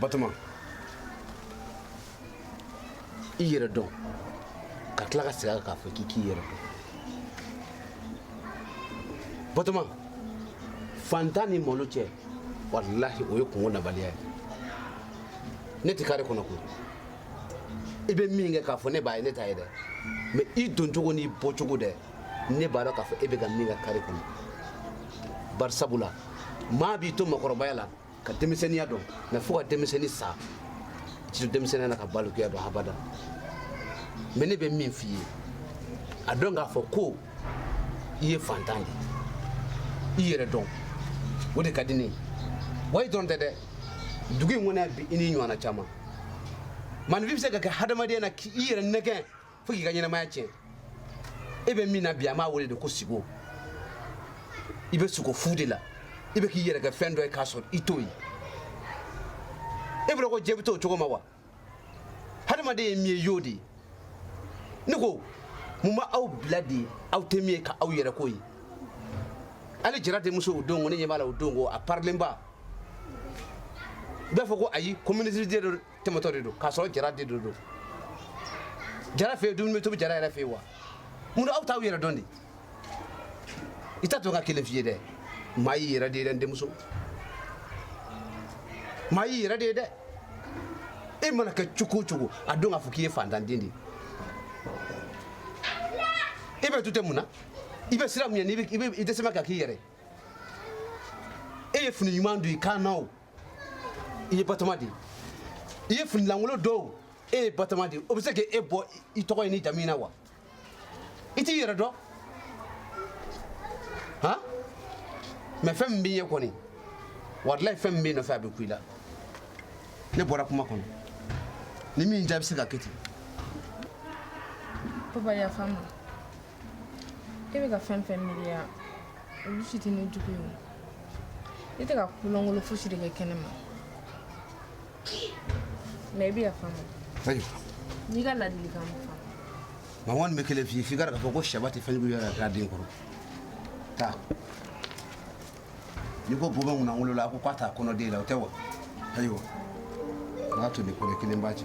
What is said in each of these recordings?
Batoma. I yɛrɛ dɔn ka tila ka segin a kan k'a fɔ k'i k'i yɛrɛ dɔn batoma fantan ni malo cɛ walahi o ye kungo nabaliya ye ne tɛ kare kɔnɔ koyi i bɛ min kɛ k'a fɔ ne b'a ye ne t'a ye dɛ mɛ i doncogo n'i bɔcogo dɛ ne b'a dɔn k'a fɔ e bɛ ka min kɛ kare kɔnɔ bari sabula maa b'i to makɔrɔbaya la ka denmisɛnninya dɔn mɛ fo ka denmisɛnni sa i t'i to denmisɛnniya na ka balikuya dɔn habada mɛ ne bɛ min f'i ye a dɔn k'a fɔ ko i ye fantan de i yɛrɛ dɔn o de ka di ne ye wa i dɔrɔn tɛ dɛ dugu in kɔnɔ bi i n'i ɲɔgɔnna caman maninfin bɛ se ka kɛ hadamadenya na k'i yɛrɛ nɛgɛn fo k'i ka ɲɛnamaya tiɲɛ e bɛ min na bi an b'a wele de ko sigo i bɛ sugo fu de la i bɛ k'i yɛrɛ kɛ fɛn dɔ ye k'a sɔrɔ i t'o ye e bolo ko diɲɛ bɛ t'o cogo ma wa hadamaden ye min ye y'o de ye ne ko mun b'aw bila de aw tɛ min ye k'aw yɛrɛ k'o ye hali jara denmuso o don ko ne ɲɛ b'a la o don ko a parilenba bɛɛ fɔ ko ayi ko minisiri den don tɛmɛtɔ de don k'a sɔrɔ jara den don don jara fɛ yen dumuni bɛ tobi jara yɛrɛ fɛ yen wa mun na aw t'aw yɛrɛ dɔn de i t'a to n ka kelen f'i ye dɛ maa y'i yɛrɛ de ye dɛ n denmuso maa y'i yɛrɛ de ye dɛ e mana kɛ cogo o cogo a dɔn k'a fɔ k'i ye fantanden de ye e bɛ douter mun na i bɛ siran mun ɲɛ n'i bɛ- i bɛ- i dɛsɛma ka k'i yɛrɛ e ye fini ɲuman don i kan na o i ye batoma de ye i ye fini lankolon don o e ye batoma de ye o bɛ se k'e bɔ i- i tɔgɔ n'i jamu na wa i t'i yɛrɛ dɔn han mɛ fɛn min b'i ye kɔni walayi fɛn min b'i nɔfɛ a bɛ ku i la ne bɔra kuma kɔnɔ ni min jaabi se ka kɛ ten papa yafa n ma e bɛ ka fɛn fɛn miiri yan olu si tɛ ne jogo ye o ne tɛ ka ko lankolon fosi de kɛ kɛnɛ ma Mɛ i bɛ yafa n'i ka ladi nka kɔni bɛ kelen f'i f'i ka fɔ ko sɛba tɛ fɛn yɛrɛ k'a den kɔrɔ taa n'i ko bɔ kunna wolo la a ko k'a taa kɔnɔ den la o tɛ wa ayiwa n'a to ni kɔrɔ kelen b'a cɛ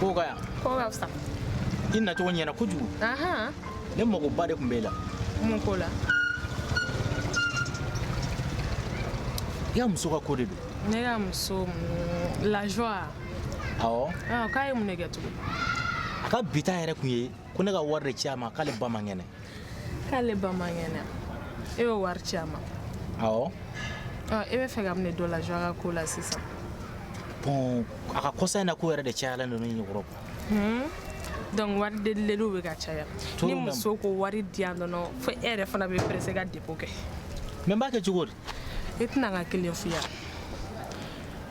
Ko ka ɲi. Ko ka fisa. I nacogo ɲɛna kojugu. Ahan. Ne magoba de tun b'e la. Mun ko la? I ka muso ka ko de don. Ne ka muso lajoie. Awɔ. Ɔ k'a ye mun de kɛ tugun? A ka but yɛrɛ tun ye ko ne ka wari de ci a ma k'ale ba man kɛnɛ k'ale ba man kɛnɛ e bɛ wari ci a ma awɔ e bɛ fɛ k'a minɛ dɔ lajɔ a ka ko la sisan bon a ka kɔsa in na ko yɛrɛ de cayalen don ne ɲɛkɔrɔ donc wari delideliw bɛ ka caya ni muso ko wari di yan dɔrɔn fo e yɛrɛ fana bɛ pressé ka dépôt kɛ mais n b'a kɛ cogo di i tɛ na n ka kelen fɔ i ye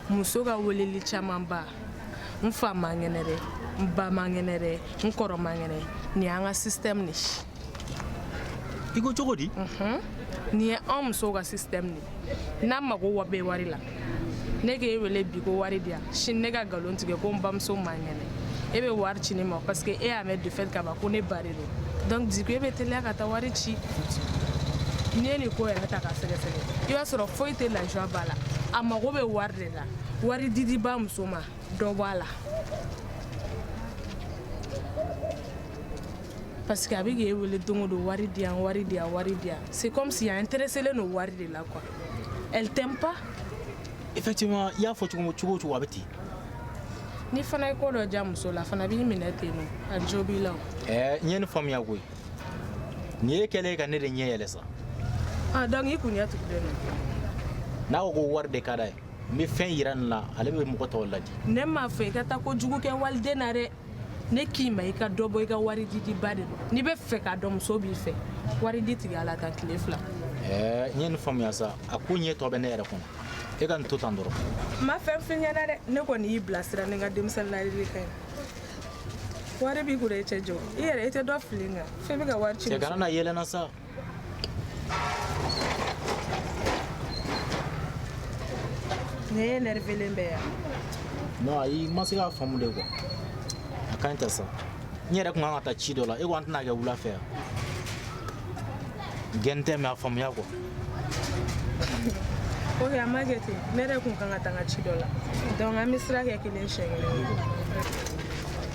muso ka weleli camanba n fa man kɛnɛ dɛ n ba man kɛnɛ dɛ n kɔrɔ man kɛnɛ nin y'an ka système de ye i ko cogo di nin ye anw musow ka système de ye n'an magoba bɛ wari la ne k'e wele bi ko wari di yan sini ne ka nkalon tigɛ ko n bamuso man kɛnɛ e bɛ wari ci ne ma parce que e y'a mɛn de fait ka ban ko ne ba de don donc du coup e bɛ teliya ka taa wari ci n'i ye nin ko yɛrɛ ta ka sɛgɛsɛgɛ i b'a sɔrɔ foyi tɛ lafiya b'a la a mago bɛ wari de la wari didiba muso ma dɔ bɔ a la parce que a bɛ k'e wele don o don wari di yan wari di yan wari di yan c'est comme si a intéressé len don wari de la quoi elle t'aime pas effectivement i y'a fɔ cogo o cogo a bɛ ten n'i fana ye ko dɔ ja muso la a fana b'i minɛ ten non a jo b'i la ɛɛ n ye nin faamuya koyi nin ye kɛlen ka ne de ɲɛ yɛlɛ sa ah donc i kun ɲɛ tugulen don n'a ko ko wari de ka d'a ye n bɛ fɛn yira nin na ale bɛ mɔgɔ tɔw ladi ne m'a fɔ i ka taa ko jugu kɛ waliden na dɛ ne k'i ma i ka dɔ bɔ i ka wari didiba de la n'i bɛ fɛ k'a dɔn muso b'i fɛ wari di tigɛ a la tan tile fila ɛɛ n ye nin faamuya sa a koɲɛ tɔ bɛ ne yɛrɛ kɔnɔ e ka nin to tan dɔrɔn n ma fɛn fɔ i ɲɛna dɛ ne kɔni y'i bilasira ni n ka denmisɛnnin ladilikan ye wari b'i kun dɛ i cɛ jɔ i yɛrɛ i tɛ dɔ fili n kan fɛn bɛ ka wari ci cɛ kana na yɛlɛ n na sa Ne énervélen bɛ yan non ayi i ma se k'a faamu de quoi a ka ɲi ten sa n yɛrɛ kun kan ka taa ci dɔ la e ko an tɛna kɛ wula fɛ yan gɛn tɛ mais a faamuya quoi ok an b'a kɛ ten ne yɛrɛ kun kan ka taa n ka ci dɔ la donc an bɛ sira kɛ kelen siɲɛ kelen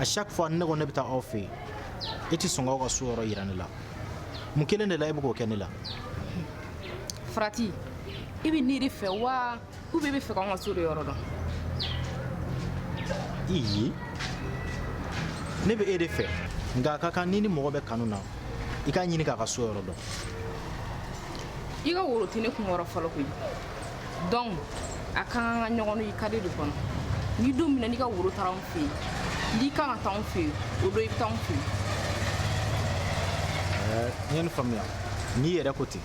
à chaque fois ne ko ne bɛ taa aw fɛ yen e tɛ sɔn k'aw ka so yɔrɔ yira ne la mun kelen de la e bɛ k'o kɛ ne la farati i bɛ ne de fɛ wa ou bien i bɛ fɛ k'anw ka so de yɔrɔ dɔn iyi ne bɛ e de fɛ nka a ka kan n'i ni mɔgɔ bɛ kanu na i k'a ɲini k'a ka so yɔrɔ dɔn i ka woro tɛ ne kun kɔrɔ fɔlɔ koyi donc a ka kan ka ɲɔgɔn i kadi de kɔnɔ ni don min na n'i ka woro taara anw fɛ yen n'i kan ka taa anw fɛ yen o don i bɛ taa anw fɛ yen n ye nin faamuya n'i yɛrɛ ko ten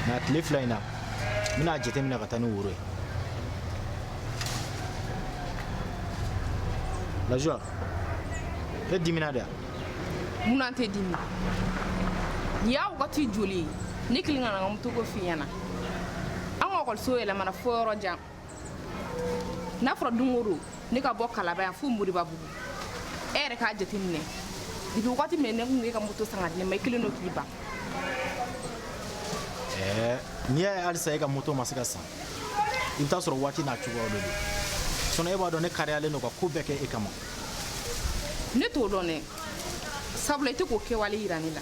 nka tile fila in na n bɛna a jateminɛ ka taa ni woro ye Laji e dimina de mun na n tɛ dimi nin y'a wagati joli ye ne kɛlen ka na n ka moto ko f'i ɲɛna an ka ekɔliso yɛlɛmana fo yɔrɔ jan n'a fɔra don o don ne ka bɔ kalaban yan fo moribabugu e yɛrɛ k'a jateminɛ depuis wagati min ne kun bɛ ka moto san ka di ne ma i kɛlen don k'i ban ɛɛ n'i y'a ye halisa e ka moto ma se ka san i bɛ t'a sɔrɔ waati n'a cogoyaw de don sinɔn e b'a dɔn ne kariyalen don ka ko bɛɛ kɛ e kama ne t'o dɔn dɛ sabula i tɛ k'o kɛwale yira ne la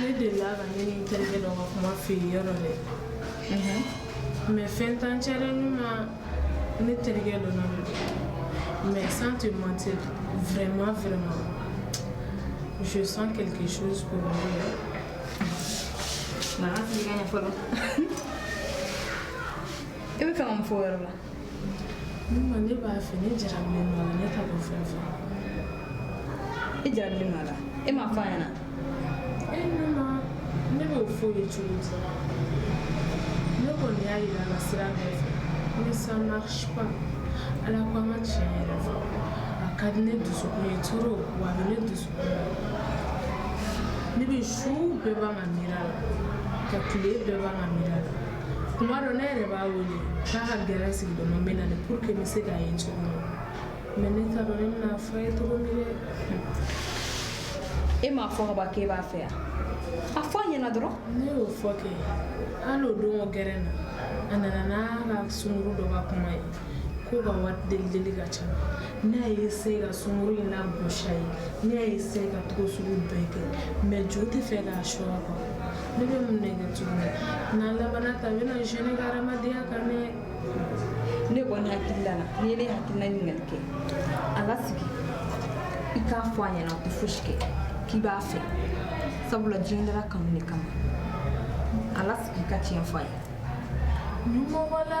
Ne delila ka ne ni terikɛ dɔ ka kuma fɔ yɔrɔ dɛ mais fɛn t'an cɛ ma ne terikɛ don mais sans te mentir vraiment vraiment je sens quelque chose pour lui nana fili ka ɲɛ fɔlɔ i b'a fɛ ka mun fɔ o yɔrɔ la ne b'a fɛ ne jarabilen b'a la ne ta ko fɛn fɛ i jarabilen b'a la e m'a f'a ɲɛna e ne ma ne b'o f'a ye cogo di ne kɔni y'a yira la sira bɛɛ fɛ mais ça marche pas ala ko an ka tiɲɛ yɛrɛ fɔ a ka di ne dusukun ye trop wa a bɛ ne dusukun na ne bɛ su bɛɛ ban ka miiri a la ka tile bɛɛ ban ka miiri a la kuma dɔ ne yɛrɛ b'a wele k'a ka gɛrɛn sigi dɔnma bɛ na de pour que n bɛ se k'a ye cogo min mais ne t'a dɔn ne bɛna f'a ye cogo min dɛ e m'a fɔ ka ban k'e b'a fɛ yan a fɔ a ɲɛna dɔrɔn ne y'o fɔ kɛ hali o don o gɛrɛn na a nana n'a ka sunkuru dɔ ka kuma ye k'o ka wari delideli ka ca n'a ye se ka sunkuru in lagosi a ye n'a ye se ka cogo sugu bɛɛ kɛ mais jo tɛ fɛ k'a sɔrɔ kɔ ne bɛ mun de kɛ tuguni n'a labanna tan n bɛna jɛn n ka hadamadenya kan dɛ ne kɔni hakilila la n'i ye ne hakilina ɲininkali kɛ a lasigi i k'a fɔ a ɲɛna o tɛ fosi kɛ k'i b'a fɛ sabula diɲɛ dara kanu de kama a lasigi i ka tiɲɛ fɔ a ye ɲumɔgɔ la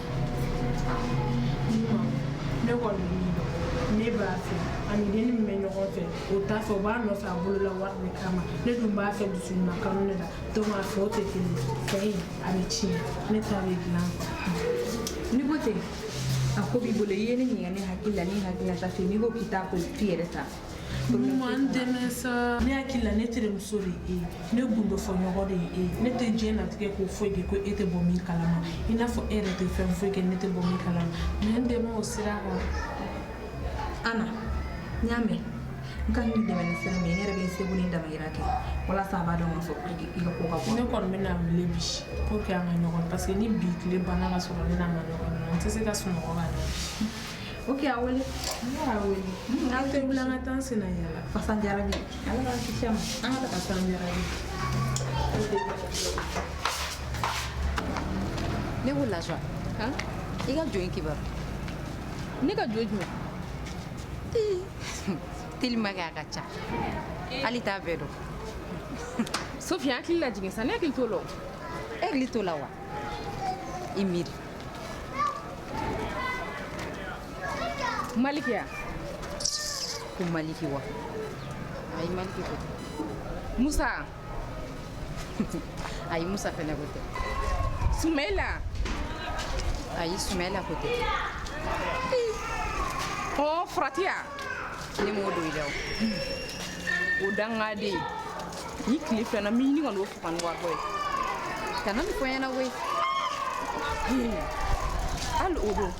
ne kɔni ne b'a fɛ a ni den min bɛ ɲɔgɔn fɛ o t'a fɛ o b'a nɔfɛ a bolo la wari de kama ne dun b'a fɛ dusuɲuman kanu de la donc a fɛ o tɛ kelen fɛ in a bɛ tiɲɛ ne ta bɛ dilan n'i ko ten a ko b'i bolo i ye ne ɲininka ne hakilila ne hakilila ta fɛ n'i ko k'i t'a ko f'i yɛrɛ ta fɛ Ɲuman n dɛmɛ sa ne hakili la ne terimuso de ye e ne gundo fɔɲɔgɔn de ye e ne tɛ diɲɛnatigɛ ko foyi kɛ e tɛ bɔ min kalama i n'a fɔ e yɛrɛ tɛ fɛn foyi kɛ ne tɛ bɔ min kalama mais n dɛmɛ o sira kan ana n y'a mɛn n ka nin dɛmɛ ni sira min ye ne yɛrɛ bɛ n seko ni damayira kɛ walasa a b'a dɔn k'a fɔ ko i ka ko ka bon ne kɔni bɛ n'a wele bi pour que an ka ɲɔgɔn parce que ni bi tile banna ka sɔrɔ ne n'a ma ɲɔgɔn ye n tɛ se ka sunɔgɔ ka ɲɛ OK a wele y'a wele an tɛ wuli an ka taa senna yaala fasa jara bi ala ka kisi ma an ka taa san jara bi ne ko laswa i ka jɔn kibaru ne ka jɔn jumɛn telima kɛ a ka ca hali n t'a bɛɛ dɔn sofiya hakili lajigin sa ne hakili t'o la e hakili t'o la wa i miiri Maliki a ko maliki wa ayi maliki ko tɛ musa ayi musa fana ko tɛ sumela ayi sumela ko tɛ ɔ farati a ne m'o dɔn i la o o dangaden ni tile fɛna miyini kɔni o fugani waribɔ ye kana nin fɔ n ɲɛna koyi hali o don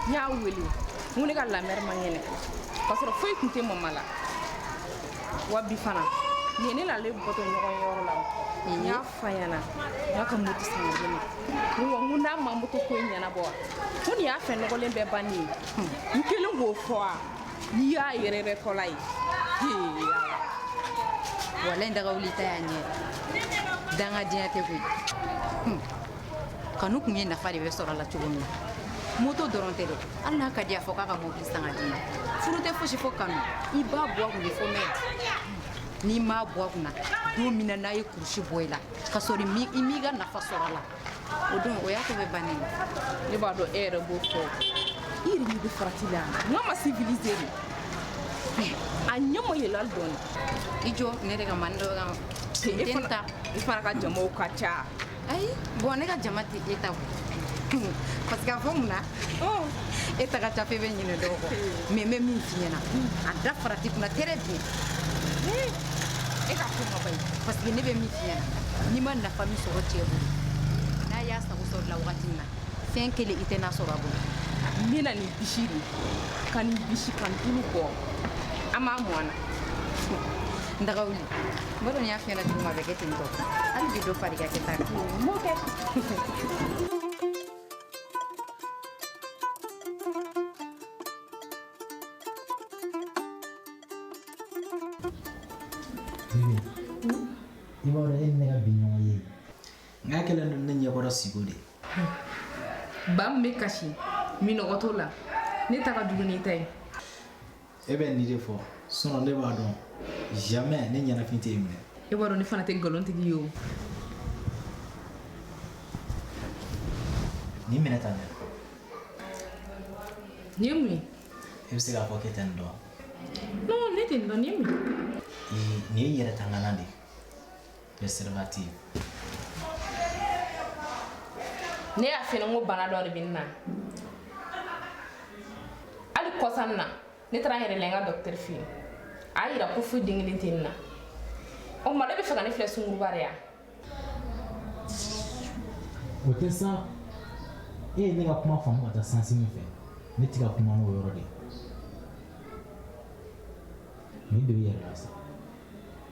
n y'a wele n ko ne ka la mère man kɛnɛ k'a sɔrɔ foyi tun tɛ mama la wa bi fana nin ye ne n'ale bɔtɔ ɲɔgɔn ye yɔrɔ la n y'a f'a ɲɛna n k'a ka moto san k'a di n ma n ko n ko n'a ma moto ko in ɲɛnabɔ wa ko nin y'a fɛn nɔgɔlen bɛɛ bannen ye n kelen k'o fɔ wa n'i y'a yɛrɛ yɛrɛ ko lajɛ walayi n dagawuli ta y'a yɛrɛ dangadenya tɛ koyi hmm. kanu kun ye nafa de bɛ sɔrɔ a la cogo min na moto dɔrɔn tɛ dɛ hali n'a ka di a fɔ k'a ka mobili san k'a d'i ma furu tɛ fosi fo kanu i b'a bɔ a kun de fɔlɔ mais n'i m'a bɔ a kunna don min na n'a ye kurusi bɔ i la ka sɔrɔ i m'i ka nafa sɔrɔ a la o don o y'a ko bɛɛ bannen ne b'a dɔn e yɛrɛ b'o fɔ i yɛrɛ ɲɛ bɛ farati la nka a ma civilisé dɛ a ɲɛ ma yɛlɛ hali dɔɔni i jɔ ne de ka mani dɔ kan e fana ta i fana ka jamaw ka ca ayi bon ne ka jama tɛ e ta bɔ parce que a fɔ mun na Oh, e ta ka ca fo e bɛ ɲinɛ dɔw kɔ mais n bɛ min f'i ɲɛna a da farati kunna très bien e ka ko ma ban parce que ne bɛ min f'i ɲɛna n'i ma nafa min sɔrɔ cɛ bolo n'a y'a sago sɔrɔ i la wagati min na fɛn kelen i tɛ n'a sɔrɔ a bolo n bɛna nin bisi de ka nin bisi k'a tulu bɔ an b'a mɔn na n daga wuli n b'a dɔn n y'a f'i ɲɛna cogo min a bɛ kɛ ten tɔ hali bi dɔ far'i ka kɛta kan n b'o kɛ i b'a dɔn e ni ne ka bi ɲɔgɔnye n k'a kɛlen don ne ɲɛkɔrɔ siko de ba min bɛ kasi minnɔgɔ t'o la ne ta ka jugu n'i ta ye e bɛ nin de fɔ sinon ne b'a dɔn jamais ne ɲɛnafin tɛ e minɛ e b'a dɔn ne fana tɛ nkalon tigɛ i ye o nin minɛ tan nin ye mun ye e bɛ se k'a fɔ k'e tɛ nin dɔn non ne tɛ nin dɔn nin ye mun ye nin ye yɛrɛtanganan de ye préservatif ne y'a f'e ɲɛ ko bana dɔ de bɛ n na hali kɔsa in na ne taara n yɛrɛ lajɛ n ka docteur fɛ yen a y'a yira ko foyi den kelen tɛ n na o tuma n'e bɛ fɛ ka ne filɛ sungurunba de ye o tɛ sa e ye ne ka kuma faamu ka taa sens min fɛ ne tɛ ka kuma n'o yɔrɔ de ye nin de bɛ yɛrɛ la sa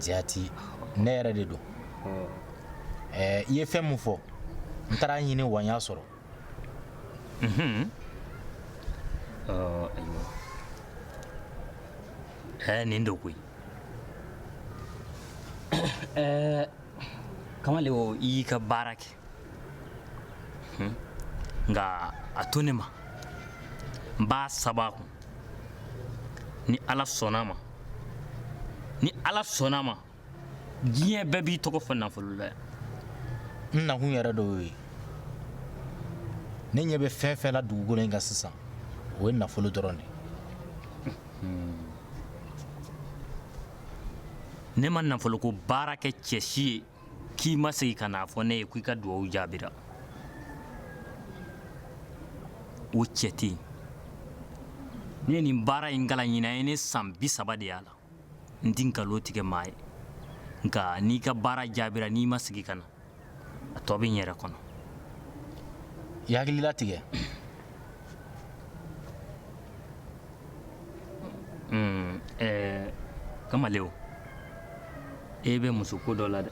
jaati ne yɛrɛ de don i ye fɛn min fɔ n taara a ɲini wa n y'a sɔrɔ ayiwa nin don koyi kamalen o i y'i ka baara kɛ nka a to ne ma n b'a saba a kun ni ala sɔnna a ma ni ala sɔnna a ma diɲɛ bɛɛ b'i tɔgɔ fɔ nafolo la n nakun yɛrɛ dɔ y'o ye ne ɲɛ bɛ fɛn fɛn la dugukolo in kan sisan o ye nafolo dɔrɔn de ne ma nafoloko baara kɛ cɛ si ye k'i ma segin ka n'a fɔ ne ye ko i ka dugawu jaabira o cɛ tɛ yen ne ye nin baara in kalan ɲinan a ye ne san bi saba de y'a la n tɛ nkalon tigɛ maa ye nka n'i ka baara jaabira n'i ma segin ka na a tɔ bɛ n yɛrɛ kɔnɔ i hakili latigɛ Hmm, eh, kamalew e bɛ musoko dɔ la dɛ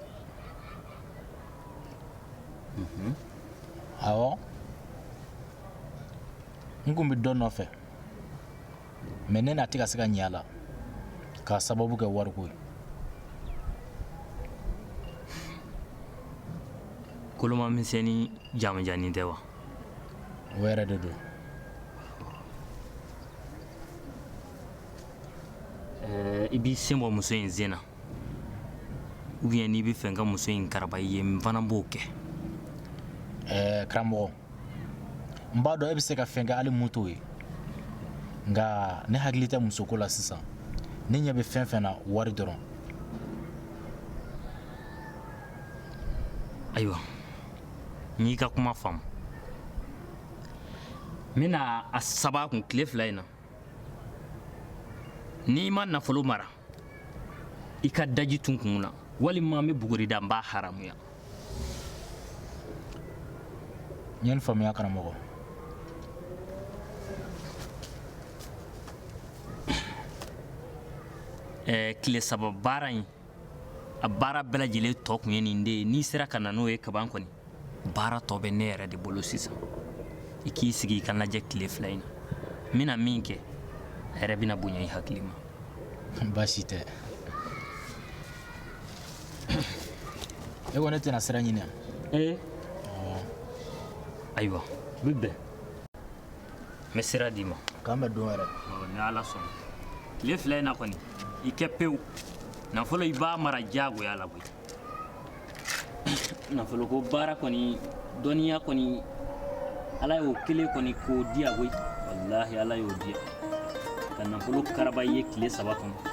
mhm. awɔ n kun bɛ dɔ nɔfɛ mais ne na tɛ ka se ka ɲɛ a la k'a sababu kɛ wariko ye koloma misɛnnin jamanjannin tɛ wa o yɛrɛ de don eh, i b'i sen bɔ muso in sen na ubiyɛn n'i b'a fɛ n ka muso in karaba i ye n fana b'o kɛ eh, karamɔgɔ n b'a dɔn e bɛ se ka fɛn kɛ hali min t'o ye nka ne hakili tɛ musoko la sisan ne ɲɛ bɛ fɛn fɛn na wari dɔrɔn ayiwa n y'i ka kuma faamu n bɛna a saba kun tile fila in na n'i ma nafolo mara i ka daji tu n kun na walima n bɛ buguri da n b'a haramuya n ye nin faamuya karamɔgɔ ɛɛ tile saba baara in a baara bɛɛ lajɛlen tɔ tun ye nin de ye n'i sera ka na n'o ye kaban kɔni baara tɔ bɛ ne yɛrɛ de bolo sisan i k'i sigi i ka n lajɛ tile fila in na n bɛna min kɛ a yɛrɛ bɛna bonya i hakili ma baasi tɛ e ko ne tɛna sira ɲini yan ee ayiwa n bɛ bɛn n bɛ sira d'i ma k'an bɛn don wɛrɛ ni ala sɔnna tile fila in na kɔni i kɛ pewu nafolo i b'a mara diyagoya la koyi nafoloko baara kɔni dɔnniya kɔni ala y'o kelen kɔni k'o diya koyi walahi ala y'o diya ka nafolo karaba i ye tile saba kɔnɔ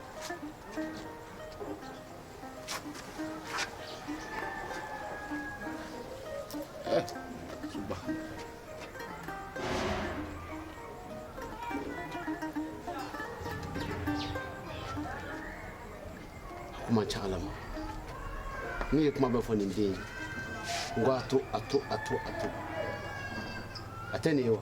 kuma caya la ma n ye kuma bɛɛ fɔ nin den ye n ko a to a to a to a to a tɛ nin ye wa